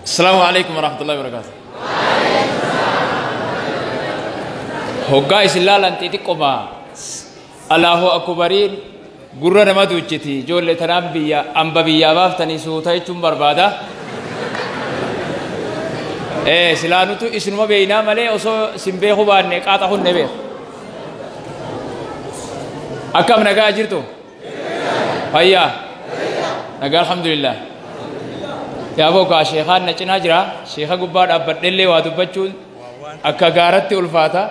Asalaamu alaikum warahmatullahi wabarakatuh. Hoggaa isin laalan xixiqqoma Allahu akubariin gurra nama duuchiti ijoollee tanaan biyya amba biyyaa baaftanii suuta jechuun barbaada. Eh silaanutu isinuma beeynaa malee osoo isin beeku baanne qaaxa hunne beeku. Akkam nagaa jirtu? fayyaa nagaa alhamdulillah yaaboo kaa sheekaan na cinaa jira sheeka gubbaa dhaabbadhellee waa dubbachuun akka gaaratti ulfaata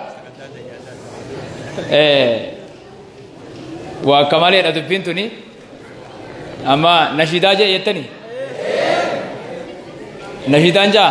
waa akka maleedha dubbiin tuni amma nashidaa jee jettani nashidaan jaa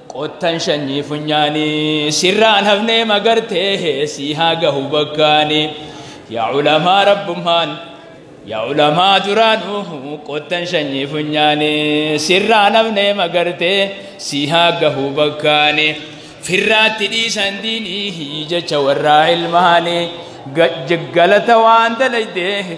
Qottan shanyii funyaanii sirraan hafnee magartee sii haa gahu bakkaanii yaa ulamaa rabbummaan yaa ulamaa duraanuu qottan shanyii funyaanii sirraan hafnee magartee sii haa gahu bakkaanii firraatti dhiisan diinii jecha warraa ilmaanii galata waan dalaydee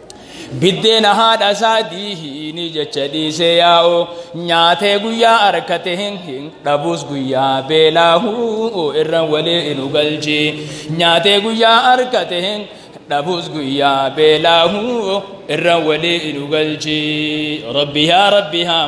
Biddeena haadha isaa diihiini jecha dhiisee yaa'u nyaatee guyyaa arkate hin hin dhabus guyyaa beelaahu irra walii inu galchi nyaatee guyyaa arkate hin dhabus guyyaa beelaahu irra walii inu galchi rabbi yaa rabbi haa